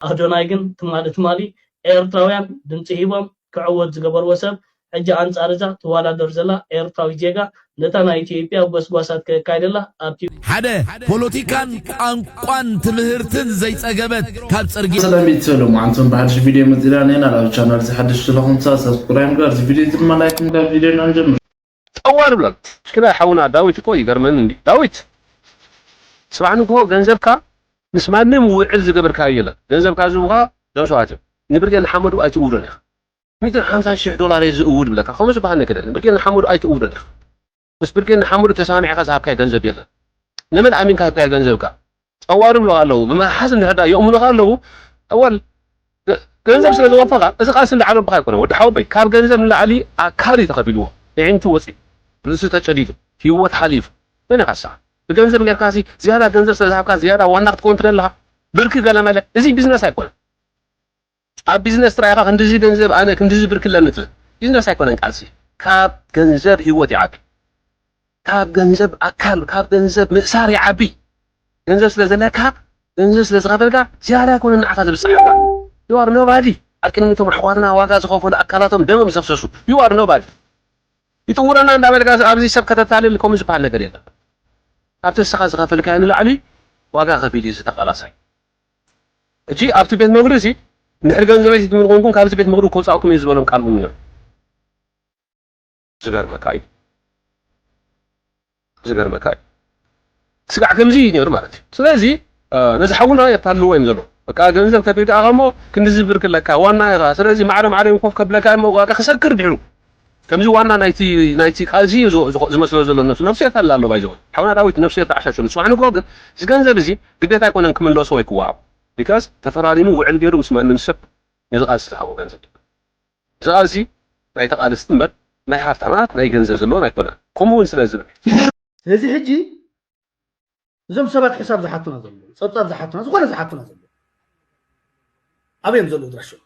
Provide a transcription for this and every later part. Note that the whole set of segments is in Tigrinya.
ኣዶናይ ግን ትማሊ ትማሊ ኤርትራውያን ድምጺ ሂቦም ክዕወት ዝገበርዎ ሰብ ሕጂ ኣንጻር እዛ ትዋዳደር ዘላ ኤርትራዊት ዜጋ ነታ ናይ ኢትዮጵያ ጎስጓሳት ከካይደላ ኣብቲ ሓደ ፖሎቲካን ቋንቋን ትምህርትን ዘይጸገበት ካብ ጽርግያ። ሰላም ቤተሰብ ሎማዓንተን ብሓድሽ ቪድዮ መፂእና ኔና ላብ ቻናል እዚ ሓድሽ ስለኹም ሳብስክራይብ ምግባር እዚ ቪድዮ እዚ ድማ ላይክ ምግባር ቪድዮና ንጀምር። ጠዋር ይብላሉ ሽክናይ ሓውና ዳዊት እኮ ይገርመኒ እንድዩ ዳዊት ጽባሕ ንግሆ ገንዘብካ ምስ ማንም ውዕል ዝገበርካዮ የለን ገንዘብካ ዝህቡካ ጆስዋ ትም ንብርጌድ ንሓመዱ ኣይትእውዶን ኢካ ሚእትን ሓምሳን ሽሕ ዶላር እየ ዝእውድ ይብለካ ከምኡ ዝበሃል ነገር የለን ብርጌድ ንሓመዱ ኣይትእውዶን ኢካ ምስ ብርጌድ ንሓመዱ ተሰማሚዕካ ዝሃብካዮ ገንዘብ የለን ንመን ኣሚንካ ሂብካዮ ገንዘብካ ጸዋር ይብሉኻ ኣለዉ ብምሓዝ እንድሕር ድኣ የእሙኑኻ ኣለዉ ኣወል ገንዘብ ስለ ዘወፈኻ እዚ ቃልሲ እንዳዓለብኻ ኣይኮነን ወዲ ሓወቦይ ካብ ገንዘብ ንላዕሊ ኣካል እዩ ተኸፊልዎ እዒንቱ ወጺኡ ርእሱ ተጨዲዱ ሂወት ሓሊፉ መን ኢኻ እስኻ ብገንዘብ ጌርካሲ ዝያዳ ገንዘብ ስለ ዝሃብካ ዝያዳ ዋና ክትከውን ትደሊ ድኻ ብርኪ ገለመለ እዚ ቢዝነስ ኣይኮነን። ኣብ ቢዝነስ ጥራይ ኢኻ ክንድዚ ገንዘብ ኣነ ክንድዚ ብር ክለሚ ትብል ቢዝነስ ኣይኮነን ቃልሲ ካብ ገንዘብ ሂወት ይዓቢ ካብ ገንዘብ ኣካል ካብ ገንዘብ ምእሳር ይዓቢ ገንዘብ ስለ ዘለካ ገንዘብ ስለ ዝኸፈልካ ዝያዳ ኣይኮነን ንዓኻ ዝብጽሓካ you are nobody ኣብ ቅድሚ እቶም ኣሕዋትና ዋጋ ዝኸፈሉ ኣካላቶም ደሞም ዘፍሰሱ you are nobody ይጥውረና እንዳበልካ ኣብዚ ሰብ ከተታልል ከምኡ ዝበሃል ነገር የለን ካብቲ ንስኻ ዝኸፈልካዮ ንላዕሊ ዋጋ ከፊሉ እዩ እዚ ተቓላሳይ ሕጂ ኣብቲ ቤት ምኽሪ እዚ እንድሕር ገንዘበይ ሒዝኩም እንኾንኩም ካብዚ ቤት ምኽሪ ከውጻእኩም እየ ዝበሎም ቃል እውን ነይሩ። ዝገርመካ እዩ ዝገርመካ እዩ ስጋዕ ከምዚ እዩ ነይሩ ማለት እዩ ስለዚ ነዚ ሓውና የታልልዎ እዮም ዘለዉ በቃ ገንዘብ ከፊልካ እሞ ክንድዚ ብር ክለካ ዋና ኢኻ ስለዚ ማዕረ ማዕረ ኮፍ ከብለካ እሞ ዋጋ ክሰክር ድሕሩ ከምዚ ዋና ናይቲ ናይቲ ቃልሲ እዩ ዝመስሎ ዘሎ ነብሱ ነፍስሄር ኣላ ኣሎ ባይ ዘ ወይ ሓውና ዳዊት ነፍስሄር ተዓሻሽሉ ጽባሕ ንግሆ ግን እዚ ገንዘብ እዚ ግዴታ ኣይኮነን ክምለሶ ወይ ክወሃቦ ቢካዝ ተፈራሪሙ ውዕል ጌሩ ምስ ማንም ሰብ ነዚ ቃልሲ ዝሃቦ ገንዘብ ድማ እዚ ቃልሲ ናይ ተቃለስቲ እምበር ናይ ሃፍታማት ናይ ገንዘብ ዘለዎን ኣይኮነን ከምኡ ውን ስለ ዝብል። ስለዚ ሕጂ እዞም ሰባት ሕሳብ ዝሓቱና ዘለዉ ጸብጻብ ዝሓቱና ዝኾነ ዝሓቱና ዘለዉ ኣበይ እዮም ዘለዉ ኣድራሾም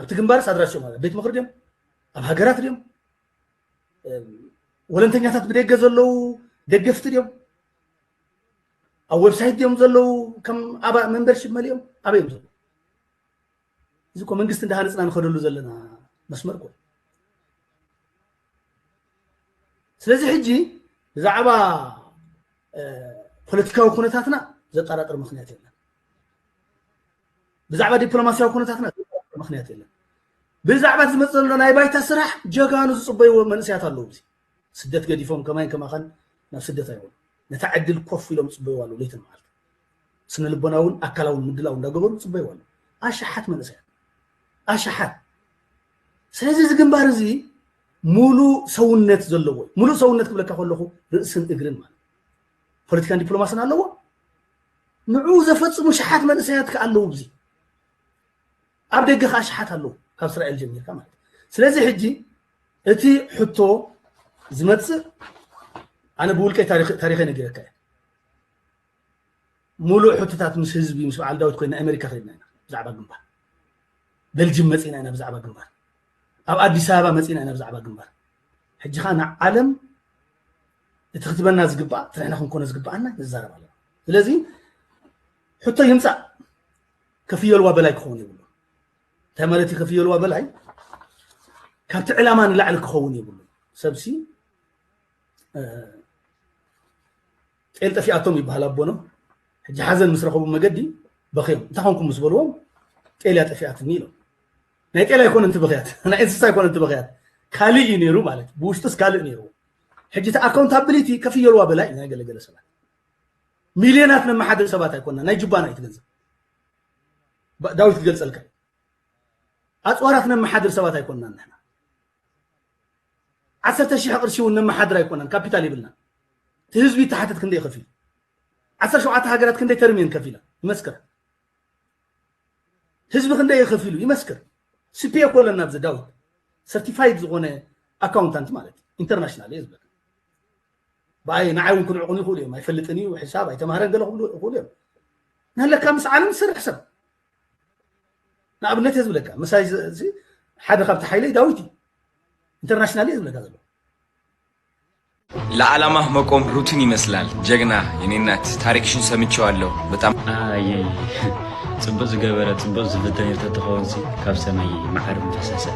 ኣብቲ ግንባርስ ኣድራሾም ኣብ ቤት ምኽሪ ድዮም ኣብ ሃገራት ድዮም ወለንተኛታት ብደገ ዘለዉ ደገፍቲ ድዮም ኣብ ዌብሳይት ድዮም ዘለዉ ከም ኣባ መንበርሽፕ መሊኦም ኣበይ እዮም ዘለዉ እዚ እኮ መንግስቲ እንዳሃነፅና ንኸደሉ ዘለና መስመር እኮ ስለዚ ሕጂ ብዛዕባ ፖለቲካዊ ኩነታትና ዘጠራጥር ምክንያት የለን ብዛዕባ ዲፕሎማሲያዊ ኩነታትና ዘጠራጥር ምክንያት የለን ብዛዕባ ዝመፅ ዘሎ ናይ ባይታ ስራሕ ጀጋኑ ዝፅበይዎ መንእሰያት ኣለዉ ስደት ገዲፎም ከማይን ከማኻን ናብ ስደት ኣይበሉ ነታ ዕድል ኮፍ ኢሎም ይጽበይዋ ኣለዉ ለይትን መዓልትን ስነ ልቦናውን ኣካላውን ምድላው እንዳገበሩ ይጽበይዋ ኣለዉ ኣሽሓት መንእሰያት ኣሽሓት ስለዚ እዚ ግንባር እዚ ሙሉእ ሰውነት ዘለዎ እዩ ሙሉእ ሰውነት ክብለካ ከለኹ ርእስን እግርን ማለት ፖለቲካን ዲፕሎማስን ኣለዎ ንዕኡ ዘፈፅሙ ሸሓት መንእሰያት ከ ኣለዉ ብዚ ኣብ ደገ ከዓ ሽሓት ኣለዉ ካብ እስራኤል ጀሚርካ ማለት ስለዚ ሕጂ እቲ ሕቶ ዝመፅእ ኣነ ብውልቀይ ታሪኸ ነጊረካ እየ ሙሉእ ሕቶታት ምስ ህዝቢ ምስ በዓል ዳዊት ኮይና ኣሜሪካ ከድና ኢና ብዛዕባ ግንባር በልጅም መፂና ኢና ብዛዕባ ግንባር ኣብ ኣዲስ ኣበባ መፂና ኢና ብዛዕባ ግንባር ሕጂ ከዓ ንዓለም እቲ ክትበና ዝግባእ ትንሕና ክንኮነ ዝግባኣና ንዛረብ ኣለና ስለዚ ሕቶ ይምፃእ ከፍየልዋ በላይ ክኸውን የብሉ እንታይ ማለት እዩ ከፍየልዋ በላይ ካብቲ ዕላማ ንላዕሊ ክኸውን የብሉ ሰብሲ ጤል ጠፊኣቶም ይበሃል ኣቦኖ ሕጂ ሓዘን ምስ ረኸቡ መገዲ በኽዮም እንታይ ኮንኩም ምስ በልዎም ጤልያ ጠፊኣትኒ ኢሎም ናይ ጤል ኣይኮነ እቲ በኽያት ናይ እንስሳ ኣይኮነ እቲ በኽያት ካልእ እዩ ነይሩ ማለት ብውሽጡስ ካልእ ነይሩ ሕጂ እቲ ኣካውንታብሊቲ ከፍየልዋ በላይ ናይ ገለገለ ሰባት ሚልዮናት ነመሓድር ሰባት ኣይኮና ናይ ጅባና እዩ ትገንዘብ ዳዊት ክገልጸልካ እዩ ኣፅዋራት ነመሓድር ሰባት ኣይኮናን ንሕና ዓሰርተ ሽሕ ቅርሺ እውን ነመሓድር ኣይኮናን ካፒታል ይብልና እቲ ህዝቢ ተሓትት ክንደይ ከፊሉ ዓሰርተ ሸውዓተ ሃገራት ክንደይ ተርሚየን ከፊላ ይመስክር ህዝቢ ክንደይ ከፊሉ ይመስክር ስፒዮ እኮ ኣለና ኣብዚ ዳዊት ሰርቲፋይድ ዝኾነ ኣካውንታንት ማለት ኢንተርናሽናል እየ ዝብለካ ብኣይ ንዓይ እውን ክንዕቑን ይኽእሉ እዮም ኣይፈልጥን እዩ ሕሳብ ኣይተማህረን ገለ ክብሉ ይኽእሉ እዮም ንለካ ምስ ዓለም ዝሰርሕ ሰብ ንኣብነት እየ ዝብለካ ምሳይ ሓደ ካብቲ ሓይለይ ዳዊት እዩ ኢንተርናሽናል እየ ዝብለካ ዘሎ ለዓላማ መቆም ሩትን ይመስላል ጀግና የኔ እናት ታሪክሽን ሰምቼዋለሁ በጣም ፅብቅ ዝገበረ ፅብቅ ዝፍተን ተተኸውንሲ ካብ ሰማይ መዓር ምፈሰሰ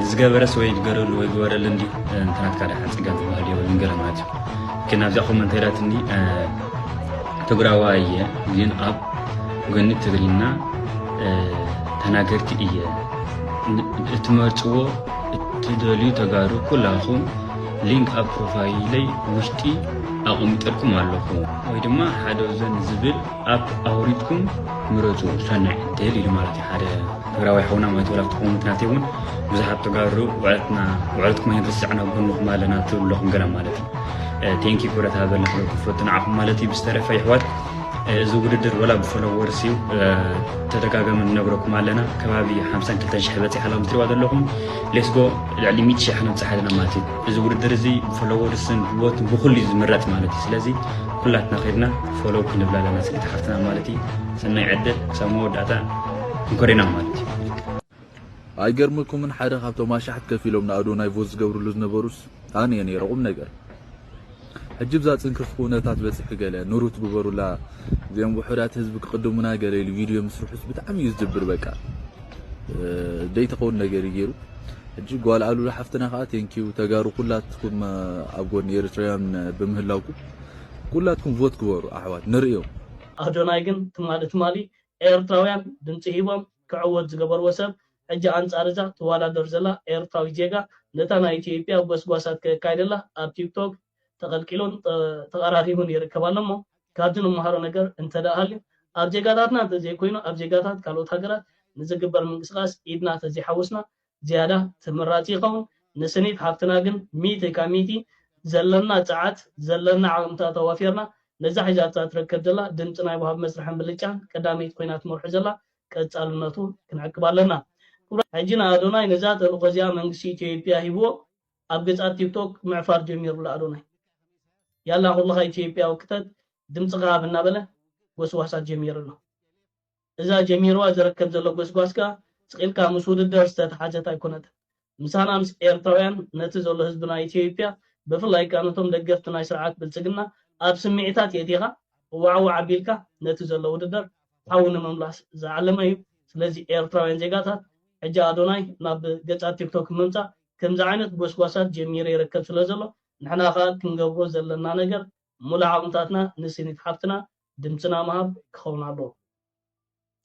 ዝገበረስ ወይ ይገረሉ ወይ ግበረሉ እንዲ እንትናትካ ዳሓ ፅጋብ ዝበሃል የብሉን ገለ ማለት እዩ ግን ኣብዛ ኮመንት ሄዳትኒ ትግራዋ እየ ግን ኣብ ጎኒ ትግርኛ ተናገርቲ እየ እትመርፅዎ እትደልዩ ተጋሩ ኩላኹም ሊንክ ኣብ ፕሮፋይለይ ውሽጢ ኣቐሚጠልኩም ኣለኹ ወይ ድማ ሓደ ዘን ዝብል ኣፕ ኣውሪድኩም ምረፁ ሰናይ ዕድል ኢሉ ማለት እዩ ሓደ ትግራዋይ ሓውና ማለት ወላ ክትኮኑ ምክንያት እውን ብዙሓት ተጋሩ ውዕለትና ውዕለትኩም ኣይንርስዕን ኣብ ጎንኹም ኣለና ትብሉ ኣለኹም ገለ ማለት እዩ ቴንኪ ኩረት ሃበልና ክሎ ክፈቱ ንዓኹም ማለት እዩ ብዝተረፈ ይሕዋት እዚ ውድድር ወላ ብፈለወርስ እዩ ተደጋጋሚ ንነግረኩም ኣለና ከባቢ 52 ሽሕ በፂሕ ኣላ ምትሪዋ ዘለኹም ሌስጎ ልዕሊ 100 ሽሕ ክንብፅሕ ኣለና ማለት እዩ እዚ ውድድር እዚ ብፈለወርስን ብቦትን ብኩሉ እዩ ዝምረፅ ማለት እዩ ስለዚ ኩላትና ከድና ፎሎው ክንብላ ኣለና ፅሪት ሓፍትና ማለት እዩ ሰናይ ዕድል ክሳብ መወዳእታ እንኮሪና ማለት እዩ ኣይገርመኩምን ሓደ ካብቶም ኣሻሕት ከፊሎም ንኣዶናይ ቮት ዝገብርሉ ዝነበሩስ ኣነየ ነይረ ቁምነገር ሕጂ ብዛ ጽንክፍ ኩነታት በጺሑ ገለ ንሩት ግበሩላ እዚኦም ውሑዳት ህዝቢ ክቅድሙና ገለ ኢሉ ቪድዮ ምስርሑስ ብጣዕሚ እዩ ዝድብር በቃ ደይተኸውን ነገር እዩ ገይሩ ሕጂ ጓል ኣሉላ ሓፍትና ከዓ ቴንኪዩ ተጋሩ ኩላትኩም ኣብ ጎኒ ኤርትራውያን ብምህላውኩም ኩላትኩም ቮት ግበሩ ኣሕዋት ንርእዮ። ኣዶናይ ግን ትማሊ ትማሊ ኤርትራውያን ድምጺ ሂቦም ክዕወት ዝገበርዎ ሰብ ሕጂ ኣንጻር እዛ ትዋዳደር ዘላ ኤርትራዊት ዜጋ ነታ ናይ ኢትዮጵያ ጎስጓሳት ከካይደላ ኣብ ቲክቶክ ተቀልቂሉን ተቀራሪቡን ይርከብ ኣሎ እሞ ካብዚ ንመሃሮ ነገር እንተድኣ ሃልዩ ኣብ ዜጋታትና እንተዘይኮይኑ ኣብ ዜጋታት ካልኦት ሃገራት ንዝግበር ምንቅስቃስ ኢድና ተዘይሓወስና ዝያዳ ተመራጺ ይኸውን። ንስኒት ሓፍትና ግን ሚእቲ ካብ ሚእቲ ዘለና ጸዓት ዘለና ዓቕምታት ኣዋፊርና ነዛ ሒዛታ ትርከብ ዘላ ድምጺ ናይ ወሃቢ መስርሕን ብልጫን ቀዳመይቲ ኮይና ትመርሖ ዘላ ቀጻልነቱ ክንዕቅብ ኣለና። ክቡራት ሕጂ ንኣዶናይ ነዛ ተልእኾ እዚኣ መንግስቲ ኢትዮጵያ ሂብዎ ኣብ ገጻት ቲክቶክ ምዕፋር ጀሚሩ ኣሎ ኣዶናይ ያላ ኩልኻ ኢትዮጵያዊ ክተት ድምጽኻ ሃብ እናበለ ጎስጓሳት ጀሚሩ ኣሎ። እዛ ጀሚርዋ ዝርከብ ዘሎ ጎስጓስ ከኣ ስቂልካ ምስ ውድደር ዝተታሓዘት ኣይኮነትን ምሳና ምስ ኤርትራውያን ነቲ ዘሎ ህዝቢ ናይ ኢትዮይጵያ ብፍላይ ከኣ ነቶም ደገፍቲ ናይ ስርዓት ብልጽግና ኣብ ስሚዒታት የእቲኻ እዋዕዋዕ ኣቢልካ ነቲ ዘሎ ውድደር ሓዊ ንምምላስ ዝዓለመ እዩ ስለዚ ኤርትራውያን ዜጋታት ሕጂ ኣዶናይ ናብ ገጻት ቲክቶክ ምምጻእ ከምዚ ዓይነት ጎስጓሳት ጀሚሩ ይርከብ ስለዘሎ ንሕና ከኣ ክንገብሮ ዘለና ነገር ሙሉእ ዓቕምታትና ንስኒት ሓፍትና ድምጽና ምሃብ ክኸውን ኣለዎ።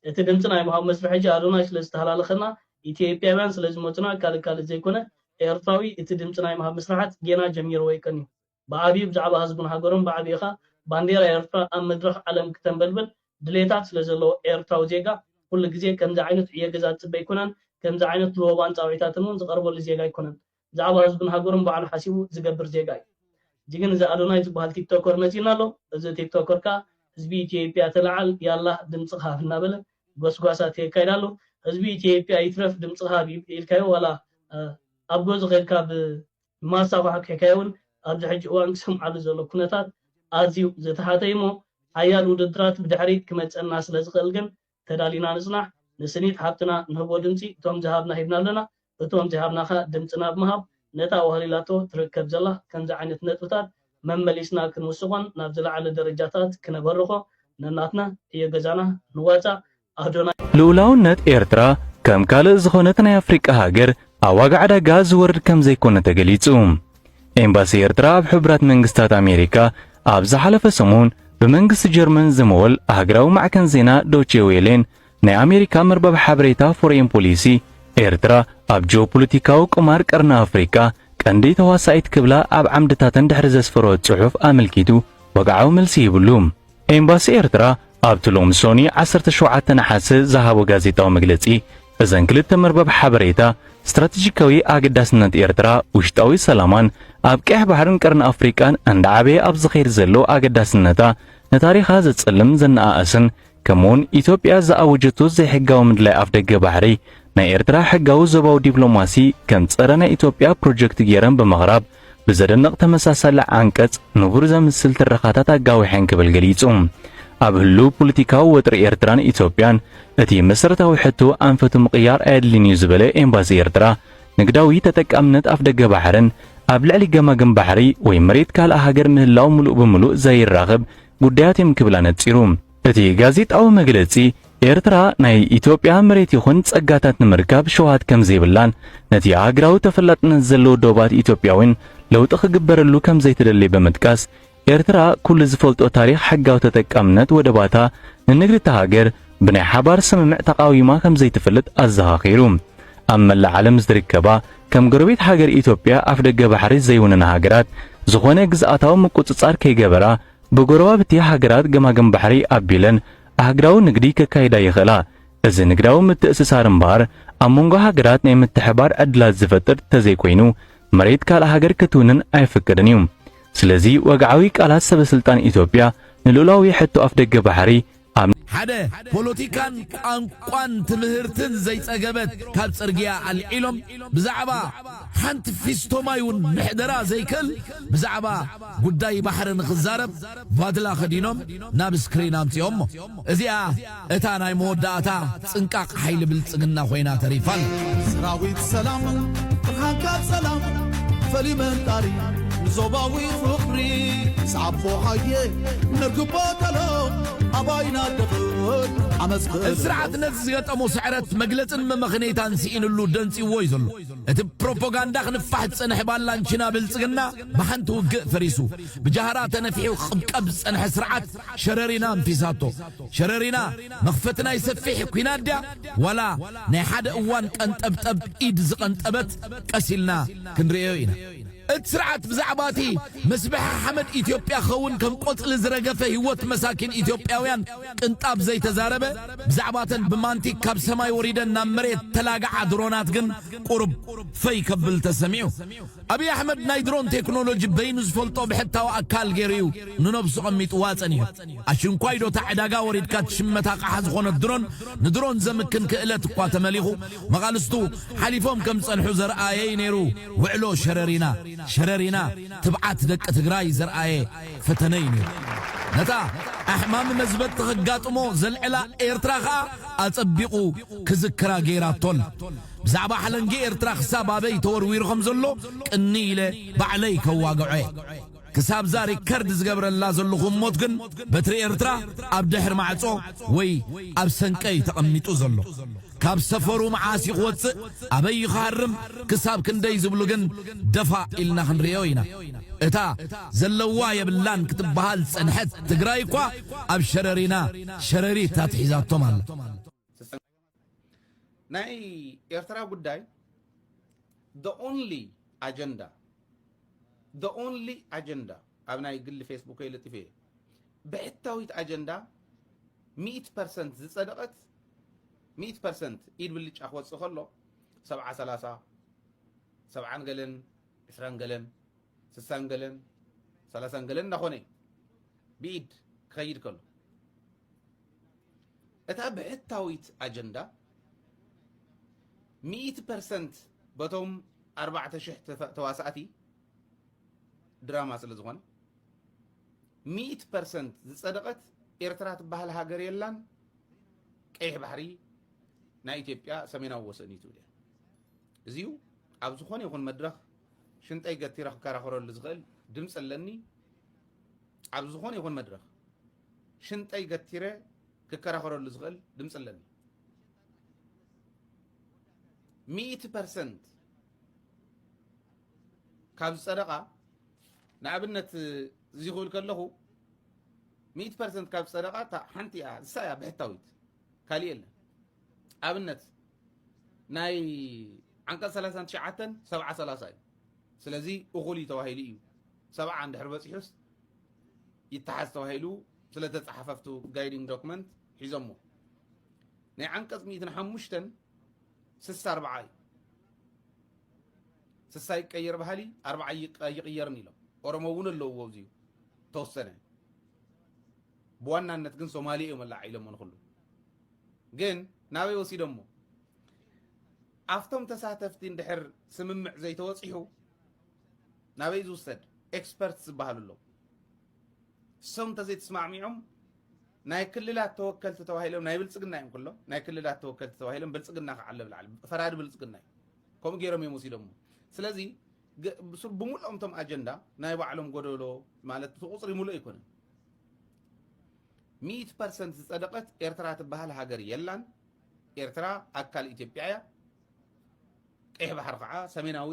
እቲ ድምጺ ናይ ምሃብ መስርሕ ሕጂ ኣዶናይ ስለ ዝተሃላለኸና ኢትዮጵያውያን ስለ ዝመጹና ካልእ ካልእ ዘይኮነ ኤርትራዊ እቲ ድምጺ ናይ ምሃብ ምስርሓት ጌና ጀሚርዎ ኣይከንዩ ብዓቢኡ ብዛዕባ ህዝቡን ሃገሩን ብዓቢኡ ከኣ ባንዴራ ኤርትራ ኣብ መድረኽ ዓለም ክተንበልብል ድሌታት ስለ ዘለዎ ኤርትራዊ ዜጋ ኩሉ ግዜ ከምዚ ዓይነት ዕዮ ገዛ ዝጽበ ኣይኮነን ከምዚ ዓይነት ልወባን ጻውዒታትን እውን ዝቐርበሉ ዜጋ ኣይኮነን ብዛዕባ ህዝብን ሃገሩን ባዕሉ ሓሲቡ ዝገብር ዜጋ እዩ እዚግን እዚ ኣዶናይ ዝባሃል ቲክቶከር መጺኡና ኣሎ እዚ ቲክቶከር ከኣ ህዝቢ ኢትዮጵያ ተላዓል ያላህ ድምጽኻ ሃብ እናበለ ጎስጓሳት የካይድ ኣሎ ህዝቢ ኢትዮጵያ ይትረፍ ድምጽኻ ሃብ ኢልካዮ ዋላ ኣብ ገዙ ከድካ ብማስታ ኳሕኪሕካዮ ውን ኣብዚ ሕጂ እዋን ክሰምዓሉ ዘሎ ኩነታት ኣዝዩ ዝተሓተ እዩሞ ሓያል ውድድራት ብድሕሪት ክመጸና ስለዝኽእል ግን ተዳሊና ንጽናሕ ንስኒት ሓብትና ንህቦ ድምጺ እቶም ዝሃብና ሂብና ኣለና እቶም ዘይሃብና ከኣ ድምጽና ብምሃብ ነታ ኣዋህሊላቶ ትርከብ ዘላ ከምዚ ዓይነት ነጥብታት መመሊስና ክንውስኾን ናብ ዝለዓለ ደረጃታት ክነበርኾ ነናትና ዕዮ ገዛና ንዋጻእ ኣዶናይ ልኡላውነት ኤርትራ ከም ካልእ ዝኾነት ናይ ኣፍሪቃ ሃገር ኣብ ዋጋ ዕዳጋ ዝወርድ ከምዘይኮነ ተገሊጹ። ኤምባሲ ኤርትራ ኣብ ሕቡራት መንግስታት ኣሜሪካ ኣብ ዝሓለፈ ሰሙን ብመንግስቲ ጀርመን ዝምወል ሃገራዊ ማዕከን ዜና ዶቼ ዌሌን ናይ ኣሜሪካ መርበብ ሓበሬታ ፎሬን ፖሊሲ ኤርትራ ኣብ ጂኦፖለቲካዊ ቁማር ቀርኒ ኣፍሪቃ ቀንዲ ተዋሳኢት ክብላ ኣብ ዓምድታተን ድሕሪ ዘስፈሮ ጽሑፍ ኣመልኪቱ ወግዓዊ መልሲ ይብሉ። ኤምባሲ ኤርትራ ኣብቲ ሎሚ ሶኒ ዓሰርተ ሸውዓተ ነሓሰ ዝሃቦ ጋዜጣዊ መግለጺ፣ እዘን ክልተ መርበብ ሓበሬታ፣ ስትራተጂካዊ ኣገዳስነት ኤርትራ፣ ውሽጣዊ ሰላማን ኣብ ቀይሕ ባሕርን ቀርኒ ኣፍሪቃን እንዳዓበየ ኣብ ዝኸይድ ዘሎ ኣገዳስነታ ንታሪኻ ዘጸልም ዘነኣእስን ከምኡውን ኢትዮጵያ ዝኣወጀቶ ዘይሕጋዊ ምድላይ ኣፍደገ ባሕሪ ናይ ኤርትራ ሕጋዊ ዞባዊ ዲፕሎማሲ ከም ጸረ ናይ ኢትዮጵያ ፕሮጀክት ገይረን ብምቕራብ ብዘደንቕ ተመሳሳሊ ዓንቀጽ ንቡር ዘምስል ትረኻታት ኣጋዊሐን ክብል ገሊጹ። ኣብ ህሉው ፖለቲካዊ ወጥሪ ኤርትራን ኢትዮጵያን እቲ መሰረታዊ ሕቶ ኣንፈቱ ምቕያር ኣየድልይን እዩ ዝበለ ኤምባሲ ኤርትራ፣ ንግዳዊ ተጠቃምነት ኣፍደገ ባሕርን ኣብ ልዕሊ ገማግም ባሕሪ ወይ መሬት ካልእ ሃገር ምህላው ምሉእ ብምሉእ ዘይራኽብ ጉዳያት እዮም ክብል ኣነጺሩ። እቲ ጋዜጣዊ መግለጺ፣ ኤርትራ ናይ ኢትዮጵያ መሬት ይኹን ጸጋታት ንምርካብ ሸውሃት ከም ዘይብላን ነቲ ኣህግራዊ ተፈላጥነት ዘለዎ ዶባት ኢትዮጵያዊን ለውጢ ክግበረሉ ከም ዘይትደሊ ብምጥቃስ፣ ኤርትራ ኩሉ ዝፈልጦ ታሪኽ ሕጋዊ ተጠቃምነት ወደባታ ንንግዲ እታ ሃገር ብናይ ሓባር ስምምዕ ተቓዊማ ከም ዘይትፈልጥ ኣዘኻኺሩ። ኣብ መላእ ዓለም ዝርከባ ከም ጎረቤት ሃገር ኢትዮጵያ ኣፍደገ ባሕሪ ዘይውንና ሃገራት ዝኾነ ግዝኣታዊ ምቁጽጻር ከይገበራ ብጎረባብቲ ሃገራት ገማግም ባሕሪ ኣቢለን ኣህግራዊ ንግዲ ከካይዳ ይኽእላ። እዚ ንግዳዊ ምትእስሳር እምበኣር ኣብ መንጎ ሃገራት ናይ ምትሕብባር ዕድላት ዝፈጥር ተዘይኮይኑ መሬት ካልእ ሃገር ክትውንን ኣይፍቅድን እዩ። ስለዚ ወግዓዊ ቃላት ሰበስልጣን ኢትዮጵያ ንልኡላዊ ሕቶ ኣፍደገ ባሕሪ ኣብ ሓደ ፖሎቲካን ቋንቋን ትምህርትን ዘይጸገበት ካብ ጽርግያ ኣልዒሎም ብዛዕባ ሓንቲ ፊስቶ ማይ ውን ምሕደራ ዘይክእል ብዛዕባ ጉዳይ ባሕሪ ንኽዛረብ ቫድላ ከዲኖም ናብ ስክሪን ኣምጺኦሞ እዚኣ እታ ናይ መወዳእታ ጽንቃቕ ሓይሊ ብልጽግና ኮይና ተሪፋ ኣላ። ሰራዊት ሰላም ብርሃንካ ጸላም ፈልዩ መንጣሪ ንዞባዊ ፍቕሪ ንስዓቦ ሃየ ነርግቦ ገሎ ኣባይና ደኽል ዓመጽ ክእለ እቲ ስርዓት ነቲ ዝገጠሞ ስዕረት መግለጽን መመኽነይታን ስኢንሉ ደንጽዩዎ እዩ ዘሎ። እቲ ብፕሮፖጋንዳ ክንፋሕ ዝጸንሐ ባላንቺና ብልጽግና ብሓንቲ ውግእ ፈሪሱ ብጃህራ ተነፊሑ ክቕብቀብ ዝጸንሐ ስርዓት፣ ሸረሪና እንተ ዛቶ ሸረሪና መኽፈቲ ናይ ሰፊሕ ኩናት ድያ ዋላ ናይ ሓደ እዋን ቀንጠብጠብ ኢድ ዝቐንጠበት ቀስ ኢልና ክንርእዮ ኢና። እቲ ስርዓት ብዛዕባ እቲ መስበሒ ሓመድ ኢትዮጵያ ክኸውን ከም ቆጽሊ ዝረገፈ ህይወት መሳኪን ኢትዮጵያውያን ቅንጣብ ዘይተዛረበ፣ ብዛዕባ እተን ብማንቲግ ካብ ሰማይ ወሪደን ናብ መሬት እተላግዓ ድሮናት ግን ቁሩብ ፈይ ከብል ተሰሚዑ። ኣብይ ኣሕመድ ናይ ድሮን ቴክኖሎጂ በይኑ ዝፈልጦ ብሕታዊ ኣካል ገይሩ እዩ ንነብሱ ቐሚጥዋ ጸኒሑ። ኣሽንኳይ ዶ እታ ዕዳጋ ወሪድካ ትሽመት ኣቕሓ ዝኾነት ድሮን ንድሮን ዘምክን ክእለት እኳ ተመሊኹ መቓልስቱ ሓሊፎም ከም ዝጸንሑ ዘርኣየ እዩ ነይሩ ውዕሎ ሸረሪና ሸረሪና ትብዓት ደቂ ትግራይ ዘርኣየ ፈተነ እዩ ነይሩ። ነታ ኣሕማሚ መዝበጥቲ ከጋጥሞ ዘልዕላ ኤርትራ ከኣ ኣጸቢቑ ክዝክራ ገይራቶ ኣላ። ብዛዕባ ሓለንጊ ኤርትራ ክሳብ ኣበይ ተወርዊሩ ከም ዘሎ ቅንይ ኢለ ባዕለይ ከዋግዖ እየ። ክሳብ'ዛ ሪከርድ ዝገብረላ ዘለኹ ህሞት ግን በትሪ ኤርትራ ኣብ ድሕሪ ማዕጾ ወይ ኣብ ሰንቀ እዩ ተቐሚጡ ዘሎ። ካብ ሰፈሩ መዓስ እዩ ክወጽእ ኣበይ እዩ ክሃርም ክሳብ ክንደይ ዝብሉ ግን ደፋእ ኢልና ክንርእዮ ኢና። እታ ዘለዋ የብላን ክትበሃል ዝጸንሐት ትግራይ እኳ ኣብ ሸረሪና ሸረሪት ኣትሒዛቶም ኣላ። ናይ ኤርትራ ጉዳይ the only agenda the only agenda ኣብ ናይ ግሊ ፌስቡከይ ልጥፍ እየ ብሕታዊት ኣጀንዳ 100 ፐርሰንት ዝጸደቐት 100 ፐርሰንት ኢድ ብልጫ ክወጽእ ከሎ 70 30 ሰብዓን ገለን ዕስራን ገለን ስሳን ገለን ሰላሳን ገለን እናኾነ ብኢድ ክኸይድ ከሎ እታ ብሕታዊት ኣጀንዳ ሚእቲ ፐርሰንት በቶም ኣርባዕተ ሽሕ ተዋሳእቲ ድራማ ስለ ዝኾነ ሚእቲ ፐርሰንት ዝጸደቐት ኤርትራ ትበሃል ሃገር የላን ቀይሕ ባሕሪ ናይ ኢትዮጵያ ሰሜናዊ ወሰን እዩ ትብል እያ እዚዩ ኣብ ዝኾነ ይኹን መድረኽ ሽንጠይ ገቲረ ክከራኸረሉ ዝኽእል ድምፂ ኣለኒ ኣብ ዝኾነ ይኹን መድረኽ ሽንጠይ ገቲረ ክከራኸረሉ ዝኽእል ድምጺ ኣለኒ ሚእቲ ፐርሰንት ካብ ዝጸደቓ ንኣብነት እዚ ክብል ከለኹ ሚእቲ ፐርሰንት ካብ ዝጸደቓ እታ ሓንቲ እያ ንሳ እያ ብሕታዊት ካሊእ የለን ኣብነት ናይ ዓንቀጽ 39 ሰብዓ 30 እዩ ስለዚ እኹል እዩ ተባሂሉ እዩ ሰብዓ እንድሕር በፂሑስ ይተሓዝ ተባሂሉ ስለተጻሓፈ ኣብቲ ጋይዲንግ ዶክመንት ሒዞሞ ናይ ዓንቀጽ ሚእትን ሓሙሽተን ስሳ ኣርባዓ እዩ ስሳ ይቀየር ባህሊ ኣርባዓ ኣይቕየርን ኢሎም ኦሮሞ እውን ኣለውዎ እዚዩ ተወሰነ ብዋናነት ግን ሶማሌ እዮም ኣላዓ ኢሎሞ ንኩሉ ግን ናበይ ወሲዶሞ ኣብቶም ተሳተፍቲ እንድሕር ስምምዕ ዘይተወፂሑ ናበይ ዝውሰድ ኤክስፐርት ዝበሃሉ ኣለው እሶም እንተዘይተስማዕሚዖም ናይ ክልላት ተወከልቲ ተባሂሎም ናይ ብልፅግና እዮም ኩሎም ናይ ክልላት ተወከልቲ ተባሂሎም ብልፅግና ከዓ ኣሎ ብላዕሊ ፈራዲ ብልፅግና እዩ ከምኡ ገይሮም እዮም ወሲዶም ስለዚ ብምሉኦም እቶም ኣጀንዳ ናይ ባዕሎም ጎደሎ ማለት እቲ ቁፅሪ ሙሉእ ኣይኮነን ሚእቲ ፐርሰንት ዝፀደቀት ኤርትራ ትበሃል ሃገር የላን ኤርትራ ኣካል ኢትዮጵያ እያ ቀይሕ ባሕሪ ከዓ ሰሜናዊ